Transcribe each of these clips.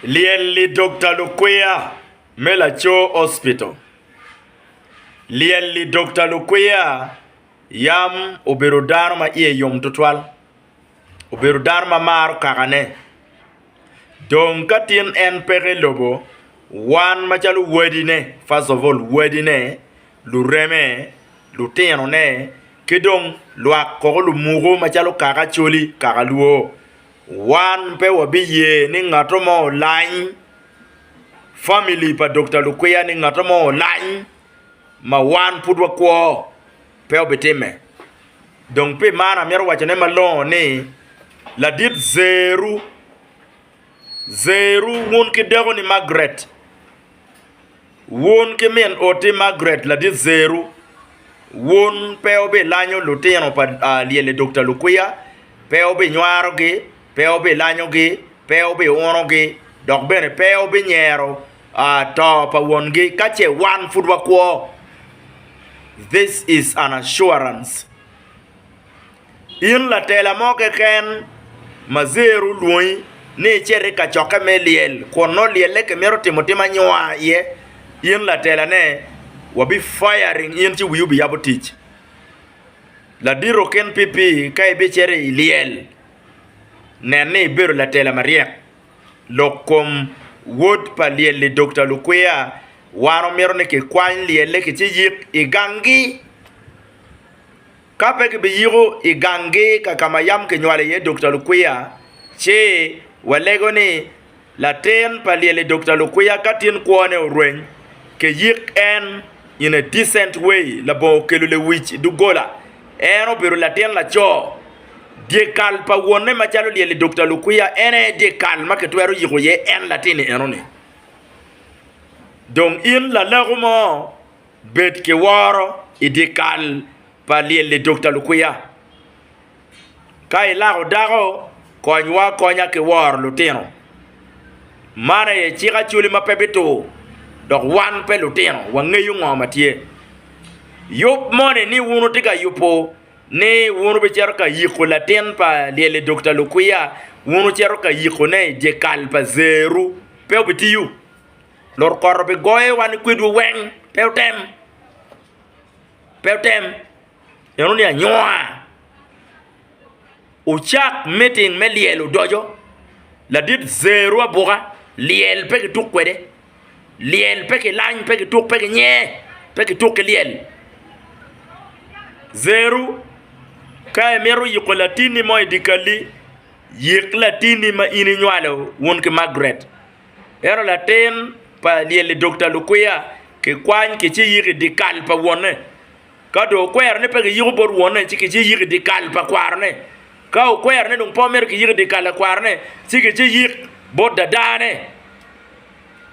Lyel lidokta lukwiya me laco hospital. Lyel lidokta lukwiya yam obedo dano ma iye yom tutwal, obedo dano ma maro kakane. Dong ka tin en peke i lobo, wan macalo wadine, first of all wadine, lureme, lutinone ki dong lwak koko lumuku macalo kaka Acholi, kaka Luo Wan pe wabiye ni ngato mo olany, famili pa Dokta Lukwiya ni ngato mo olany ma wan pud wakwo, pe obitimme. Dong pi man amito wacone malongo ni ladit zeru, zeru wun ki dekoni Margaret. Wun ki min oti Margaret ladit Zeru, wun pe wubilanyo lutino pa lyel i dog ta lukwiya, pe wubinywarogi, pe wubilanyogi, pe wubiunogi, dok bene pe wubinyero to pa wongi ka ce wan pud wakwo. This is an assurance. In latela mo keken ma zer olwongi ni icit i kacokke me lyel kun nongo lyelle kimito timo tim anyua iye, in latelane, wabi firing in ci wiyi obiyabo tic. Ladito kin PP ka ibicito i lyel, nen ni ibedo latela maryek. Lok kom wod pa lyel-li Dokta Lukwiya, Wan omito ni kikwany lyelle ki ci yik i ganggi. Ka pe kibiyiko i ganggi ka ka ma yam kinywalo iye Dokta Lukwiya, ci walego ni latin pa lyel-li Dokta Lukwiya ka tin kwone orweny, kiyik en in a decent way labongo kelo lewic i doggola. En obedo latin laco. Dyekal pa wonne macalo lyel-li Dokta Lukwiya en aye dyekal ma kitwero yiko iye en latin-ni enoni. Dong in lalago mo? Bed ki woro i dyekal pa lyel lidokta lukwiya. Ka ilako dako, konywa akonya ki woro lutino. Man aye cik Acholi ma pe bitur, dok wan pe lutino, wangeyo ngo ma tye. Yub moni ni wun wutye ka yubo ni wun wubicito ka yiko latin pa lyel lidokta lukwiya, wun wucito ka yikone i dyekal pa zeru, pe obitiyo. Lukoto bi goye wa ni kwedwu weng, pe wutem, pe wutem, neno ni anyua. Wucak meeting me lyel odoco, ladit zeru abuka, lyel pe ki tuk kwede, lyel pe ki lany, pe ki tuk, pe ki nye, pe ki tuk ki lyel. Zeru ka imito yiko latini mo i dye kalli, yik latini ma in inywalo wun ki Margaret. Ento latin pa lyelli dok ta lukwiya kikwany kiciyiko i dyekal pa wonne. Ka dong okwero ni pe kiyiko bot wonne, ci kiciyiko i dyekal pa kwarone. Ka okwero ni dong pe omito kiyiko i dyekal pa kwarone, ci kiciyik bot dadane.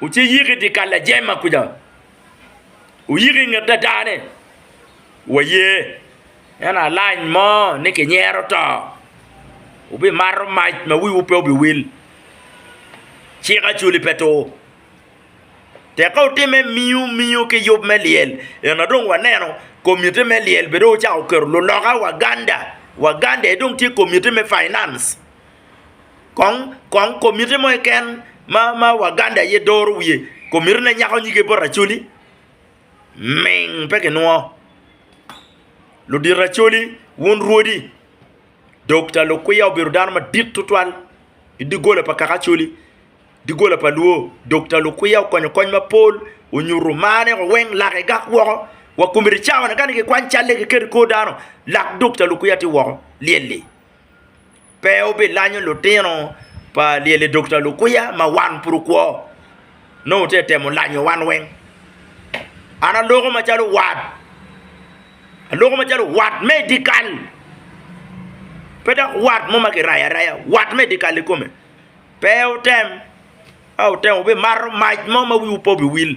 Wuciyik i dyekal lajema kuca, wuyik i nget dadane. Waye. En alany mo ni kinyero to, wubimato mac ma wiwu pe obiwil. Cik acoli pe tur. Tek ka wutimme miu miu ki yub me lyel, ento dong waneno komitti me lyel bene dong ocako keto luloka Waganda, Waganda aye dong tye komitti me finance. Kong kong komitti mo keken ma Waganda aye doro wiye, komittine nyako nyige bot Acholi. ming pe kinwo. Ludito Acholi, wun rwodi, Dokta Lukwiya obedo dano madit tutwal i doggola pa kaka Acholi, doggola pa Luo. Dokta Lukwiya okonyo kony mapol, onyuto marne wa weng, lake gak woko wa komiti cawane kani kikwany calle kiketo i kor dano lak Dokta Lukwiya tye woko lyelli. pe wubilanyo lutino pa lyel-li Dokta Lukuya ma wan pud wukwo, nongo wutye ka temo lanyo wan weng. An aloko macalo wat, aloko macalo wat me i dyekal, pe dok wat mo ma kirayo araya, wat me i dyekal ikome. Pe wutem, ka wutemo wubimato mac mo ma wiwu pe obiwil,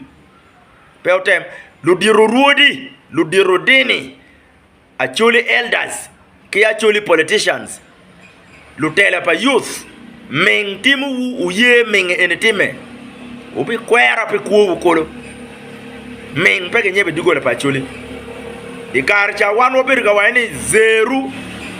pe wutem. Ludito orwodi, ludito odini, Acholi elders ki acholi politicians, lutela pa youth, ming timo wu wuye ming eni time, wubi kwera pi kwo wu kolo, ming pe ki nyebe dogola pa acholi. I kare ca wan wabedo ka waco ni zeru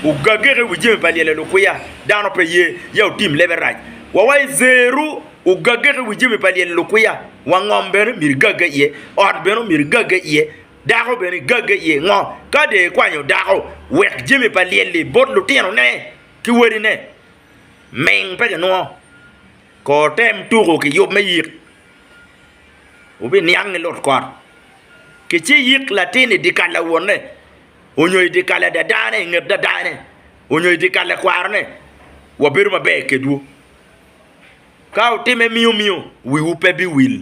ogagege i wi jami pa lyelo lukwiya, dano pe ye ya wutim lebe rac, wa waco ni zeru ogagege i wi jami pa lyelo lukwiya, wangom bene myero igage iye, ot bene myero igage iye, Dako bene gagge iye ngo ka dee kwanyo dako wek jami pa lyel-li bot lutino ne ki wadi ne ming pe kinwongo kor tem tuku ki yub me yik wubi niang ni lut kot ki ci yik latin i dikal lawon ne onyo i dikal ladada ne i nget dada ne onyo i dikal lakwaro ne wa bedo maber kedwu ka wutime miyo miyo wiwu pe biwil.